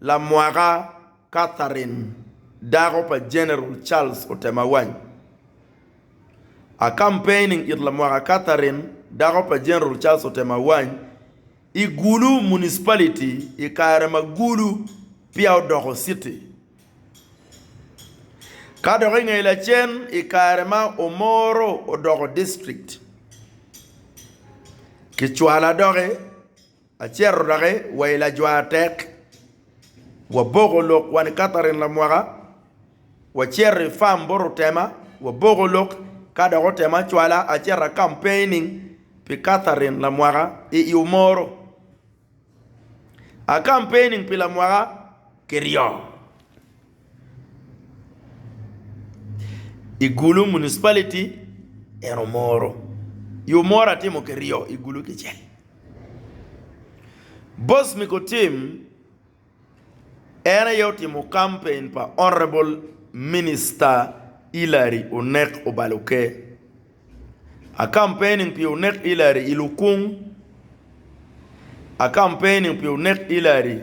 Lamwaka Catherine, dako pa General Charles Otemawany. A campaigning it Lamwaka Catherine, dako pa General Charles Otemawany, i Gulu Municipality i kare ma Gulu peya odoko city. Ka dok i nge lacen i kare ma Omoro odoko district. Kicwala doki Acito doki wa i lajwaratek, waboko lok wa ni Catherine Lamwaka, wacito i fam bot otema, waboko lok, ka dok otema acwala acito a campaigning pi Catherine Lamwaka i Iwomoro. A campaigning pi Lamwaka kiryo. I Gulu municipality en omoro yo moro atimo kiryo i Gulu kicel boss me ka tim en aye otimo campaign pa honorable minister Hillary onek obalo oker a campaigning pi onek Hillary i lukung a campaigning pi onek Hillary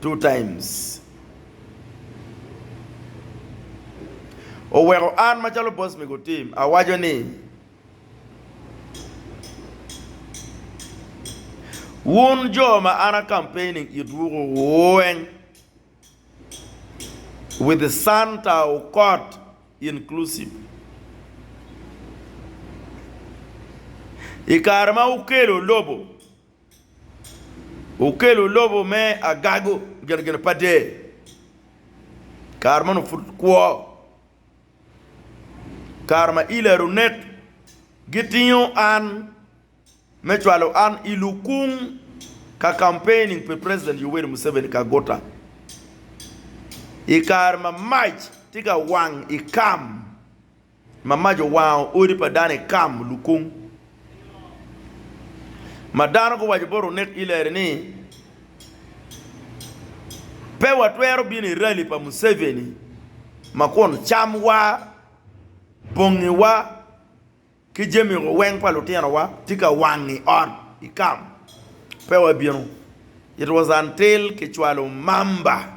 two times. Oweko an macalo boss me gutim awaco ni wun jo ma an a campaigning itwu weng with Santa Okot inclusive ikare ma wukelo lobo Okelo lobo me agago genegene pa del. Kare meno pud kwo, kare ma ilo aye onek. Gitingo an me cwalo an i lukung ka campaigning pi president Yoweri Museveni Kaguta. I kare ma mac tye ka wang i kam. Ma mac owango odi pa dano i Kam, Lukung. Ma dano guwaco bot onek Hillary ni, Pe watwero bino i rali pa Museveni ma kun camwa, bongiwa ki jami mogo weng pa lutinowa tye ka wang i ot i Kam. Pe wabino. It was until kicwalo mamba.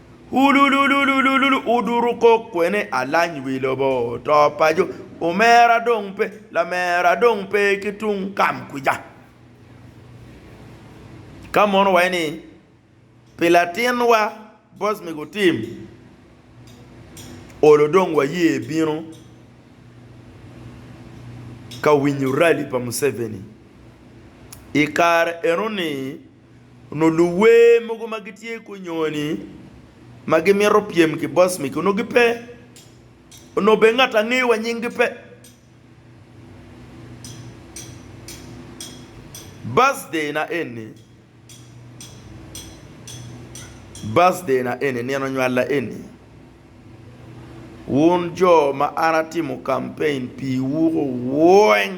Hululululululu Oduru kok kwene alany wi lobo to paco Omera dong pe lamera dong pe ki tung kam kwica Ka mono waye ni Pi latinwa boss me gu team Olo dong waye bino Ka winyo rally pa Museveni I kare eno ni Onongo luwer mogo ma gitye i gunyoni ma gimito pyem ki boss megi onongo gipe, onongo bene ngat angeyo wa nying gi pe. Birthday na eni, birthday na eni, nino nywala eni, wun jo ma an atimo campaign piwu weng.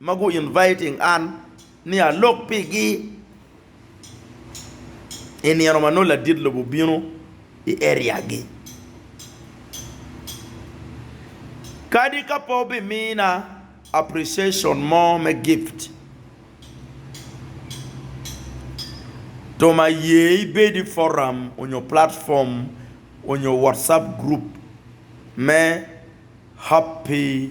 ma gu inviting an ni alok pi gi i nino ma nongo ladit lobo bino i area gi. Kadi ka pe obi mina appreciation mo me gift, tom aye ibed i forum onyo platform onyo WhatsApp group me happy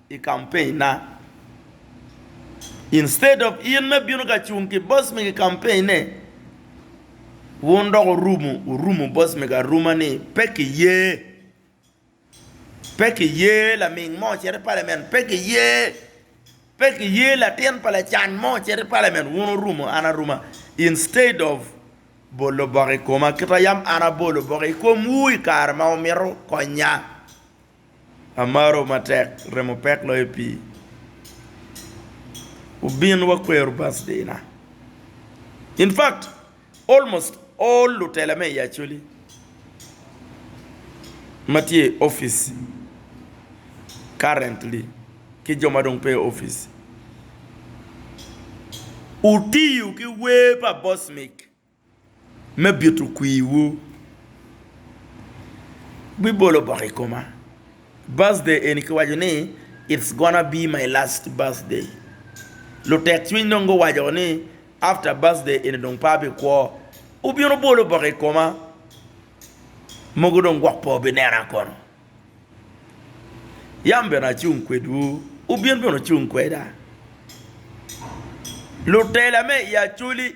i campaign na. Instead of in me bino ka cung ki boss me ki campaign ne wun dok orumu orumu boss me aruma ni pe ki ye pe ki ye laming mo ocito i parliament pe ki ye pe ki ye latin pa lacan mo ocito i parliament wun orumu an aruma instead of bolo bok i koma kita yam an abolo bok i kom wu i kare ma wumito konya. Amaro matek remo pek loyo pii wubin wakwero birthday na in fact almost all lutela me i Acholi ma tye i office currently ki jo ma dong pe i office wutiyo ki wer pa Bosmic. me bito kwiwu. Bibolo bok i koma. Birthday eni kiwaco ni it's gonna be my last birthday. Lutek cwiny dong guwaco ni after birthday eni dong pe abikwo. Wubino bolo bok i koma, mogo dong gwok pe wubinena kono. Yam bene acung kwedwu, wubin bene wucung kweda. Lutela me i Acholi